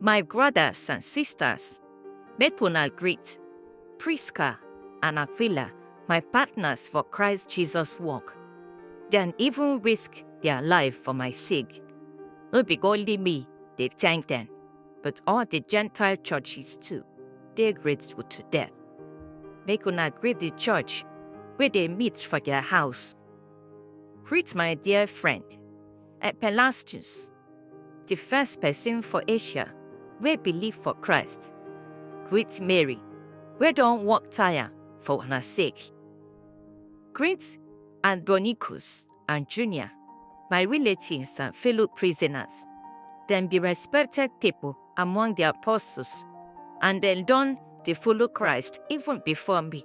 My brothers and sisters, make una greet Prisca and Aquila, my partners for Christ Jesus work. Dem even risk their life for my sake. No be only me dey thank them, but all the Gentile churches too dey grateful to them. Make una greet the church wey dey meet for their house. Greet my dear friend, Epelastus, Di first pesin for Asia wey believe for Christ, greet Mary wey don work tire for una sake. Greet Andronicus and Junia, my relatives and fellow prisoners. Dem be respected pipo among di apostles and dem don dey follow Christ even before me.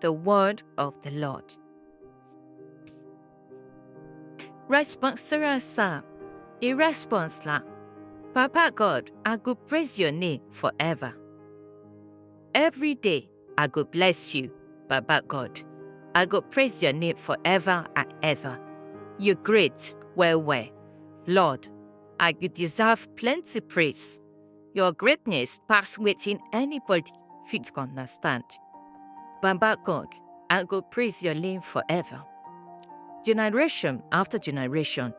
The word of the Lord. Responsora sa, i response la. Papa God, I go praise your name forever. Every day I go bless you, Baba God. I go praise your name forever and ever. You're great, well, well. Lord, I could deserve plenty praise. Your greatness pass wetin anybody fit understand. Baba God, I go praise your name forever. Generation after generation,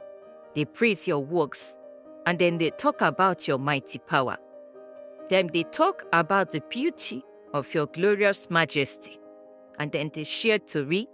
they praise your works and then they talk about your mighty power. Then they talk about the beauty of your glorious majesty and then they share to read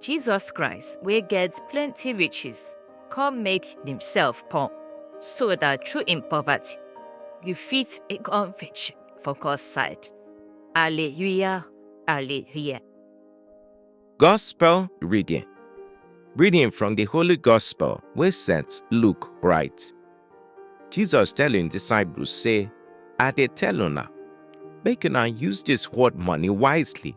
Jesus Christ, wey get plenty riches, come make himself poor, so that through him poverty, you fit become rich for God's side. Alleluia, Alleluia. Gospel reading. Reading from the Holy Gospel wey St. Luke write. Jesus tell im disciples say, I dey tell una, make una use this world money wisely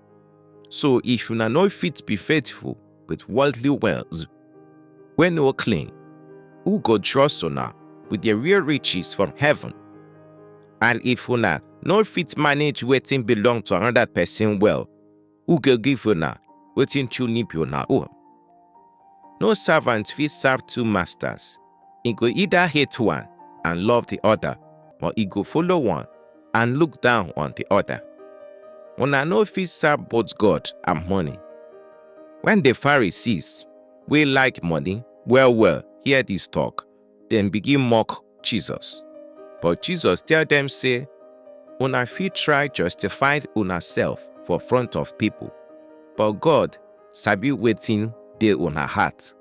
So if una no fit be faithful with worldly wealth wey no clean, who go trust una with the real riches from heaven? And if una no fit manage wetin belong to another person well, who go give una wetin truly be una own? No servant fit serve two masters, He go either hate one and love the other, or he go follow one and look down on the other. Una no fit serve both God and money. When the Pharisees, wey like money well well, hear this talk, dem begin mock Jesus. But Jesus tell dem say, Una fit try justify una self for front of people, but God sabi wetin dey una heart.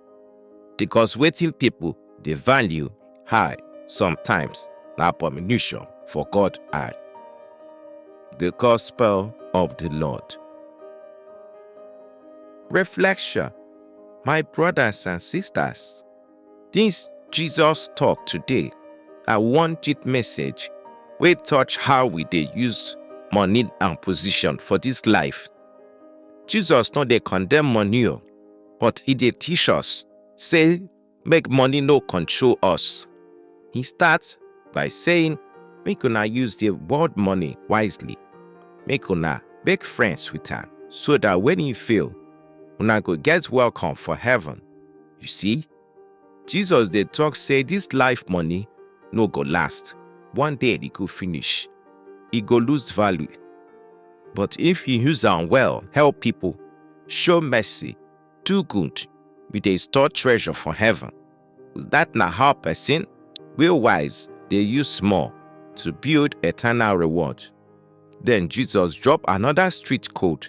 Because wetin people dey value high sometimes na abomination for God eye. The Gospel of the Lord. Reflection My brothers and sisters, this Jesus talk today na one deep message wey touch how we dey use money and position for this life. Jesus no dey condemn money o, but e dey teach us say make money no control us. He start by saying make una use the world money wisely, make una make friends with am so that when you fail, una go get welcome for heaven. You see, Jesus dey talk say this life money no go last. One day e go finish. E go lose value. But if you use am well, help people, show mercy, do good, you dey store treasure for heaven. That na how person wey wise dey use small to build eternal reward. Then Jesus drop another street code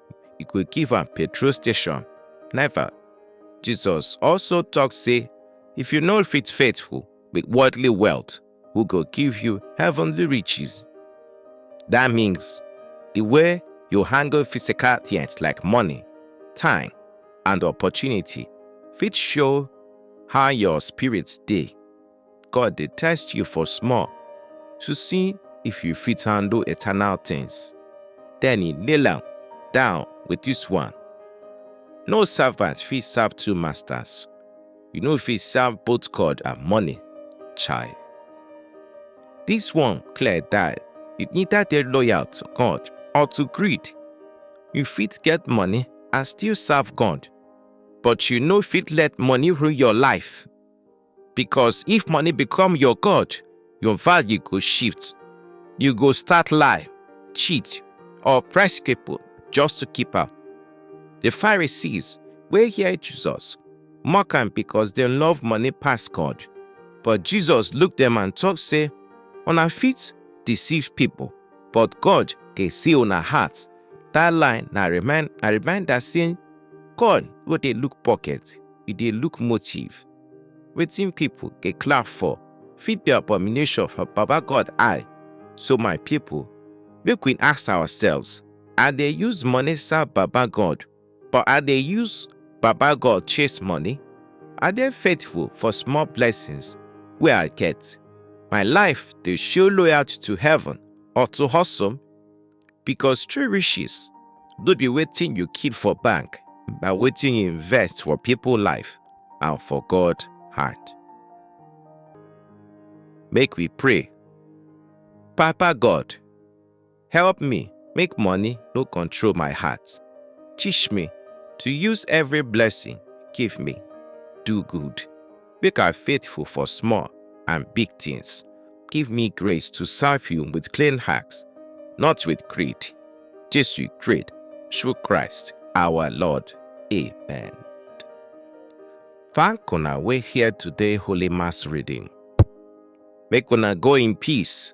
e go give am petrol station. Never. Jesus also talk say, if you no fit faithful with worldly wealth, who go give you heavenly riches? That means the way you handle physical things like money, time, and opportunity fit show how your spirit dey. God dey test you for small to see if you fit handle eternal things. Then he nail am down with this one. No servant fit serve two masters. You no fit serve both God and money. Chai. This one clear that you neither dey loyal to God or to greed. You fit get money and still serve God, but you no fit let money rule your life. because if money become your god your value go shift you go start lie cheat or oppress people just to keep am the pharisees wey hear jesus mock am because dem love money pass god but jesus look dem and talk say una fit deceive people but god dey see una heart that line na remind na reminder say god no dey look pocket e dey look motive Wetin pipo dey clap for fit be abomination for Baba God eye. So my pipo, make we ask ourselves, I dey use money serve Baba God or I dey use Baba God chase money? I dey faithful for small blessings wey I get? My life dey show loyalty to heaven or to hustle? because true riches no be wetin you keep for bank na wetin you invest for people life and for god heart make we pray papa god help me make money no control my heart teach me to use every blessing give me do good Make I faithful for small and big things. Give me grace to serve you with clean hearts, not with greed. Jesus great through Christ our Lord. Amen. Thank una wey hear today Holy Mass reading. Make una go in peace.